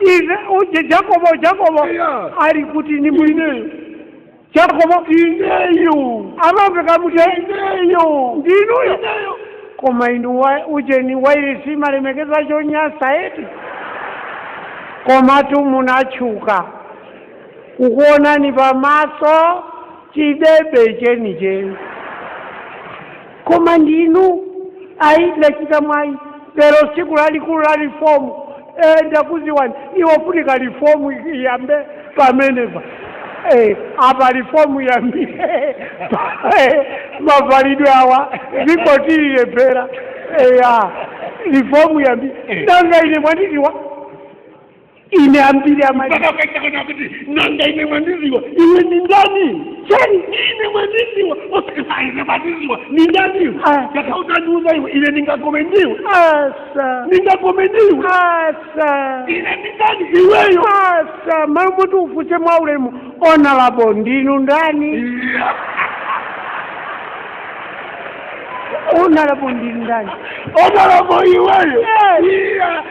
iwe uje jakobo jakobo Yeah. alikuti ni mwini ineyo jakobo ineyo amamveka muti ineyo ndinuyo ineyo koma inu wa- ujeni wairisi mumalemekeza chonyasa eti komatu munachuka kukuonani pamaso chidebe chenicheni koma ndinu ayi ndachita mwayi lero tsiku lalikulu la rifomu e, ndakudziwani ikufunika rifomu iyambe pamenepa e, apa rifomu iyambe mavalidwe awa zikotiliyepera eya rifomu iyambe nanga ine mwandiziwa ine ambiri amai mpaka ukaita kana kuti nanga ine mwandiziwa iwe ni ndani chani ine mwandiziwa osakisa ine mwandiziwa ni ndani iwe Ah. yakautandiuza iwe ine ningakome ndiwe asa ningakome ndiwe asa ine ni ndani iweyo asa malo moti ufunse mwa ulemu onalabo ndinu ndani Iya. onalabo ndinu ndani onalabo iweyo Yes. Iya.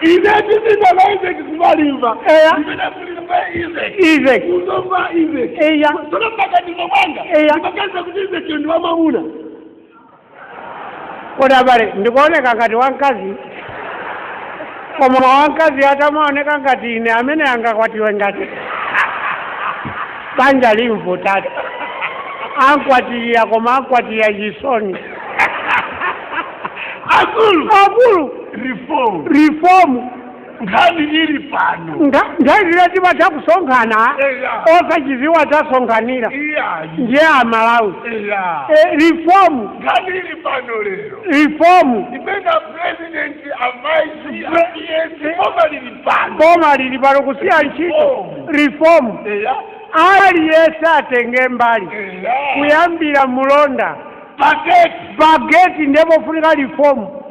ine ndipita kwa izeki kuma Limbe Eya. ndipita ku Limbe izeki izeki ku Zomba izeki eya tsono mmaganizo mwanga Eya. ndimaganiza kuti izeki ndi wamamuna kodi abale ndikuoneka ngati wamkazi koma wamkazi atamaoneka ngati ine amene angakwatiwe ngati banja limvutatu ankwatira koma ankwatira chisoni akulu akulu reform reform nkhani ili pano ngati nthawi zina timatha kusonkhana Eya. osachiziwa tasonkhanila iyayi ndiye amalawi eya Eh, reform nkhani ili pano lero reform imene president a vice apiyesi boma lili pano boma lili pano kusiya ntchito reform eya aliyense atenge mbali eya kuyambira mulonda paketi pageti ndiye pofunika lifomu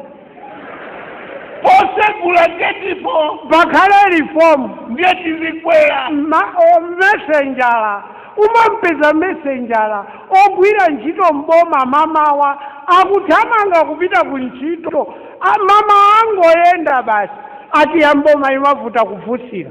posegula getipo pakhale lifomu ndiye tizikwera Ma- o- mesenjala umampeza mesenjala ogwira ntchito mboma mamawa akuthamanga kupita ku ntchito A- mamawa angoyenda basi ati ya mboma imavuta kufunsira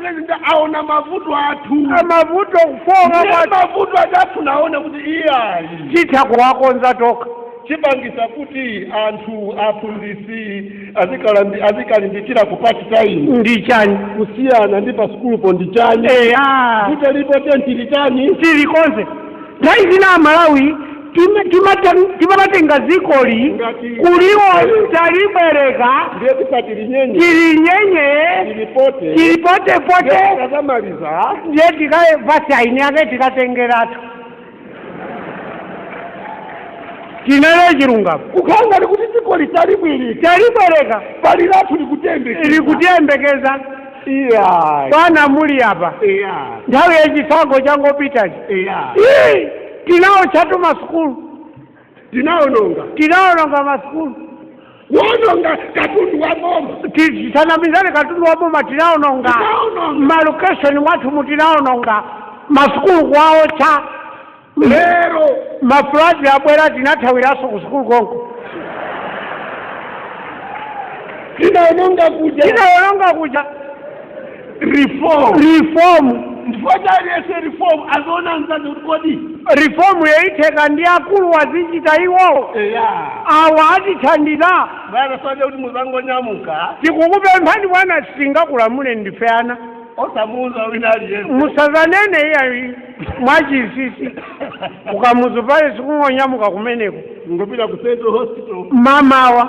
president aona mavuto athu amavuta kufotokoza Ndiye kwati mavuto athu naona kuti iyayi titha kuwakonza tokha chipangisa kuti anthu aphunzitsi azikalambi- azikalimbikira ku pati tayimu ndi chani kusiyana ndi pa sukulupo ndi chani eya kuti lipo tenti ndi chani chilichonse nthawi zina amalawi Tim- timata- timatenga dzikoli Ngati- kuliwo talibwereka ndiye tisati linyenye tilinyenye tilipote tilipotepote tazamaliza ndiye tikaye basi aini yake tikatengeratu tinene chilungamo kukanga likuti dzikoli talibwereka talibwereka pali lathu likutembekeza likutiyembekeza iya bwana muli apa iya nthawi yachisankho changopitachi iya Ii! tinaotchatu masukulu tinaononga tinaononga masukulu kuononga katundu wa boma tisanamizane katundu wa boma tinaononga malokeshoni mwathumu tinaononga masukulu kuwaotcha lero mafuladi abwera tinathawiranso ku sukulu konko tinaononga kuja tinaononga kuja reform reform chifukwa cha aliyense reform aziona mzazi kuti kodi reformyo itheka ndi akuluwa azichita iwowo eya awa atithandiza bwana soja kuti muzangonyamuka tikukupemphani bwana sitingakulamule ndife ana osamuuza wina aliyense musazanene iyayi mwachinsinsi ku Kamuzu Palace kungonyamuka kumeneko kungopita ku central hospital mamawa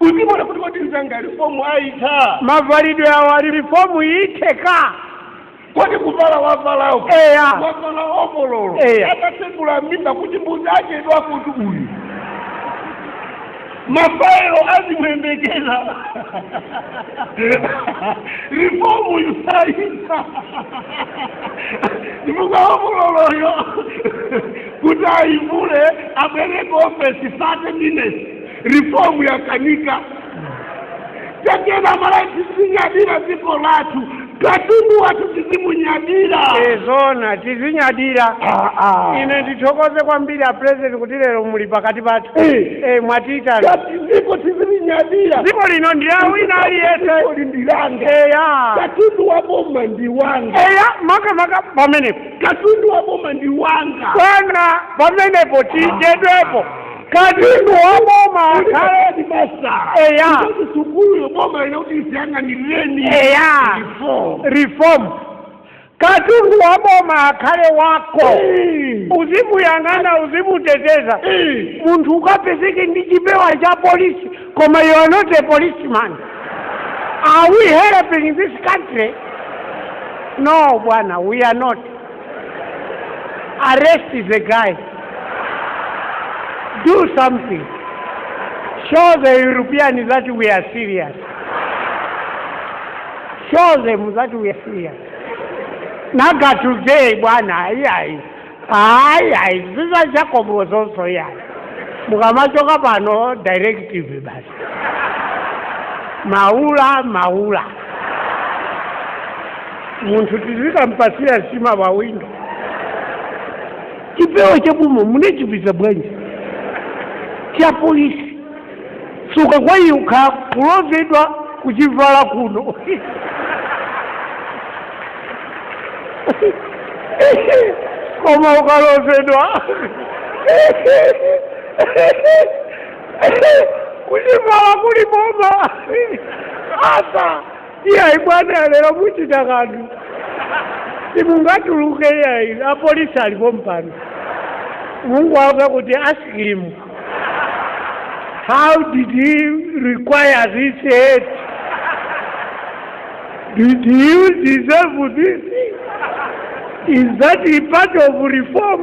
uzimuona kuti kodi mzanga reform ayitha mavalidwe awo ali reform itheka kodi kuvala wavalawo Eya. wavala ovololo Eya. atatsegula mimba kuti mbuzi achedwa kuti uyu mafayilo azimuyembekeza reform yusayisa ndimuka ovololoyo kuti ayivule abwere ku ofesi 30 minutes reform yakanika tiyeni aMalawi tizinyadira dziko lathu katundu wathu tizimunyadira zoona tizinyadira Ah, ah. ine ndithokoze kwambiri a president kuti lero muli pakati pathu Eh. Eh, mwatiitana Kuti dziko tizilinyadira dziko lino ndi la wina Dziko aliyense ili ndi langa eya katundu wa boma ndi wanga eya makamaka pamenepo katundu wa boma ndi wanga bwana pamenepo tichedwepo katundu wa boma akhale ndi masala Eya. Kuti sukulu boma ina kuti isiyang'anireni Eya. Reform. reform katundu wa boma akhale wako Eh. uzimuyang'ana uzimuteteza Eh. munthu ukapezeke ndi chipewa cha polisi koma you are not a policeman are we helping this country no bwana we are not arrest the guy do something show the european that we are serious show them that we are serious naga today bwana ayi ayi ayi ayi zizachakomozoso yayi mukamachoka pano directive basi maula maula munthu tizikampatsira nsima pa windo chipewa chabuma munachipeza bwanji cha polisi suka kwa iwe ukha kuloledwa kuchivala kuno koma ukaloledwa kuchivala kuli boma apa iyayi bwana lero muchita kanthu simungatuluke iyayi apolisi ali pompano mungouza kuti ask him how did he acquire this aid did you deserve this is that a part of reform